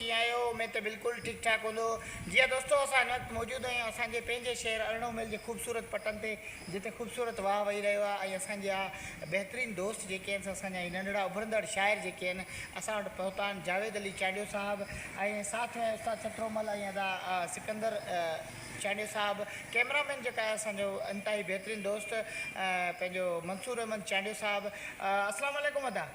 ڪيئن آهيو؟ اميد ته بلڪل ٺيڪ ٺاڪ هوندؤ. جي ها دوستو اسان هن وقت موجود آهيون اسان جي پنهنجي شهر ارڙهون ميل جي خوبصورت پٽن تي جتي خوبصورت واهه وهي رهيو آهي ۽ اسان جا بهترين دوست جيڪي آهن سا اسان جا هي ننڍڙا اڀرندڙ شاعر جيڪي آهن اسان وٽ پهتا آهن جاويد علي چانڊيو صاحب ۽ ساٿ ۾ استاد سٺرو مل ۽ ادا سڪندر چانڊيو صاحب ڪيمرا مين جيڪو آهي اسان جو انتهائي بهترين دوست پنهنجو منصور احمد چانڊيو صاحب السلام عليڪم ادا.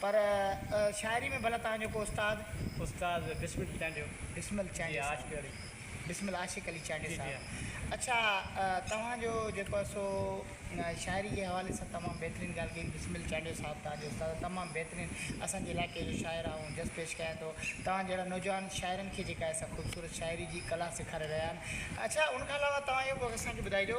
پر شاعري ۾ ڀلا توهان جو ڪو استاد؟ استاد بسمل چانڊيو. بسمل چانڊيو صاحب. جي عاشق علي. بسمل عاشق علي چانڊيو صاحب. جي جي ها. اڇا توهان جو جيڪو آهي سو شاعري جي حوالي سان تمام بهترين ڳالهه ڪئي. بسمل چانڊيو صاحب توهان جو استاد تمام بهترين اسان جي علائقي جو شاعر آهي ۽ جس پيش ڪيان ٿو. توهان جهڙا نوجوان شاعرن کي جيڪا آهي سا خوبصورت شاعري جي ڪلا سيکاري رهيا آهن. اڇا ان کان علاوه توهان اهو به اسان کي ٻڌائجو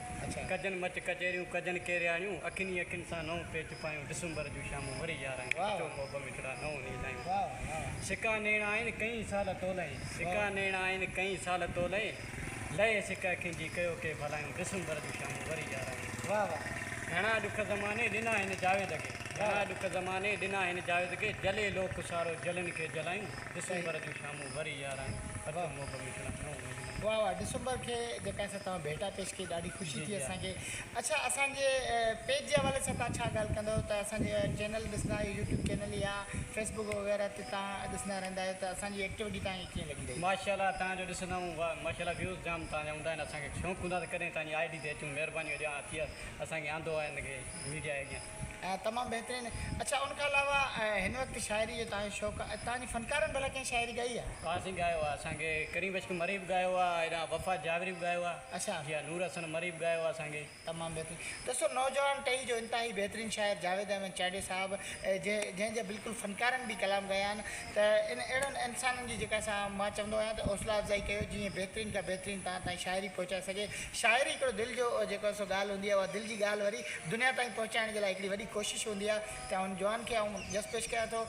ڪجن مچ ڪچهريون، ڪجن ڪيرياڻيون، اکين ئي اکين سان نئون پيچ پايون، ڊسمبر جون شامون وري يارايون، اچو محب مٺڙا نئون نيل آيون، سڪا نيڻ آهن ڪئين سال تولئين، سڪا نيڻ آهن ڪئين سال تولئين، لئي سڪ اکين جي ڪيو ڪي ڀلايون، ڊسمبر جون شامون وري يارايون. گهڻا ڏک زماني ڏنا هن جاويد کي، گهڻا ڏک زماني ڏنا هن جاويد کي، جلي لوڪ سارو جلن کي جلايون، ڊسمبر جون شامون وري يارايون، اچو محب مٺڙا. واھ واھ ڊسمبر کي جيڪا اسان توهان ڀيٽا پيش ڪئي ڏاڍي خوشي ٿي اسان کي اڇا اسان جي پيج جي حوالي سان توهان ڇا ڳالھ ڪندو ته اسان جي چينل ڏسندا آهيو يوٽيوب چينل يا فيس بڪ وغيره تي توهان ڏسندا رهندا آهيو ته اسان جي ايڪٽيوٽي توهان کي ڪيئن لڳي رهي. ماشاءالله توهان جو ڏسندا آهيون واھ ماشاءالله ويوز جام توهان جا هوندا آهن اسان کي شوق هوندا ته ڪڏهن توهان جي آئي ڊي تي اچون مهرباني هجي اسان کي آندو آهي ان کي ميڊيا اڳيان. تمام بهترين. اڇا ان کان علاوه هن وقت شاعري جو توهان جو شوق آهي توهان جي فنڪارن ڀلا ڪنهن شاعري ڳائي آهي. ها سائين ڳايو آهي اسان کي ڪريم عشق مري به ڳايو آهي هيڏانهن وفا جاويري به ڳايو آهي اڇا. جي ها نور حسن مري به ڳايو آهي اسان کي. تمام بهترين دوستو نوجوان ٽهي جو انتهائي بهترين شاعر جاويد احمد چاڙهي صاحب جنهن جنهن جا بلڪل فنڪارن به ڪلام ڳايا آهن ته ان اهڙن انسانن جي جيڪا سان مان چوندو آهيان ته حوصلا افزائي ڪيو جيئن بهترين کان بهترين توهان تائين شاعري پهچائي سگهي شاعري هڪڙو دل جو جيڪو سو ڳالهه هوندي آهي اها دل جي ڳالهه وري دنيا تائين پهچائڻ جي لاء هڪڙي وڏي ڪوشش هوندي آهي ته هن جوان کي آئون جس پيش ڪيان ٿو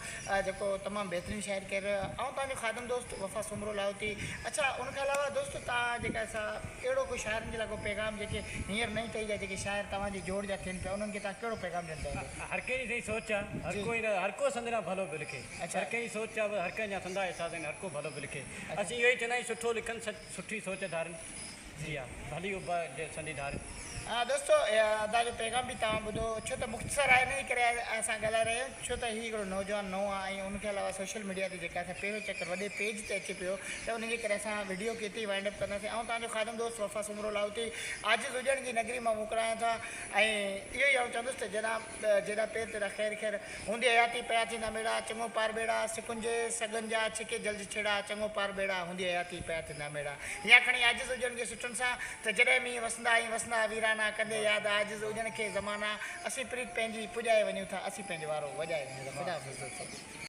جيڪو تمام بهترين شاعري ڪري رهيو آهي آئون توهان جو خادم دوست وفا سومرو لاهوتي اڇا ان کان علاوه دوستو توهان جيڪا سا اهڙو ڪو شاعرن جي لاء ڪو پيغام جيڪي هينئر نئين ٽهي جا جيڪي شاعر توهان جي جوڙ جا ٿين پيا انهن کي توهان ڪهڙو پيغام ڏيڻ چاهيندو. هر ڪنهن جي سائين سوچ آهي هر ڪو هر ڪو سندران ڀلو به لکي. هر ڪنهن جي سوچ آ، هر ڪنهن جا سندا احساس آهن، هر ڪو ڀلو به لکي. اسين اهو ئي چوندا آهيون سٺو لکن سٺي سوچ ڌارين. جي آ، ڀلي اڀ جي سندي ڌارين. ها دوستو ادا جو پيغام به توهان ٻڌو ڇو ته مختصر آهي انهي ڪري اسان ڳالهائي رهيا آهيون ڇو ته هي هڪڙو نوجوان نئون آ ۽ ان کي علاوه سوشل ميڊيا تي جيڪا اسان پهريون چڪر وڏي پيج تي اچي پيو ته ان جي ڪري اسان وڊيو کي اتي ئي وائنڊ اپ ڪنداسين آئون توهان جو خادم دوست وفا سومرو لاهوتي عاجز هجڻ جي نگري مان موڪلايان ٿا ۽ اهو ئي آئون چوندس ته جناب جيڏا پير تيڏا خير خير، هوندي حياتي پيا ٿيندا ميڙا، چڱو پار ٻيڙا، سکن جي سڳن جا، ڇڪي جلد ڇيڙا، چڱو پار ٻيڙا، هوندي حياتي پيا ٿيندا ميڙا. يا کڻي عاجز هجڻ جي سٽن سان، ته جڏهن مينهن وسندا ائين وسندا ويرانا، ڪندي ياد عاجز اجڻ کي زمانا، اسين پريت پنهنجي پڄائي وڃون ٿا، اسين پنهنجو وارو وڄائي وڃون ٿا، خدا حافظ دوستو.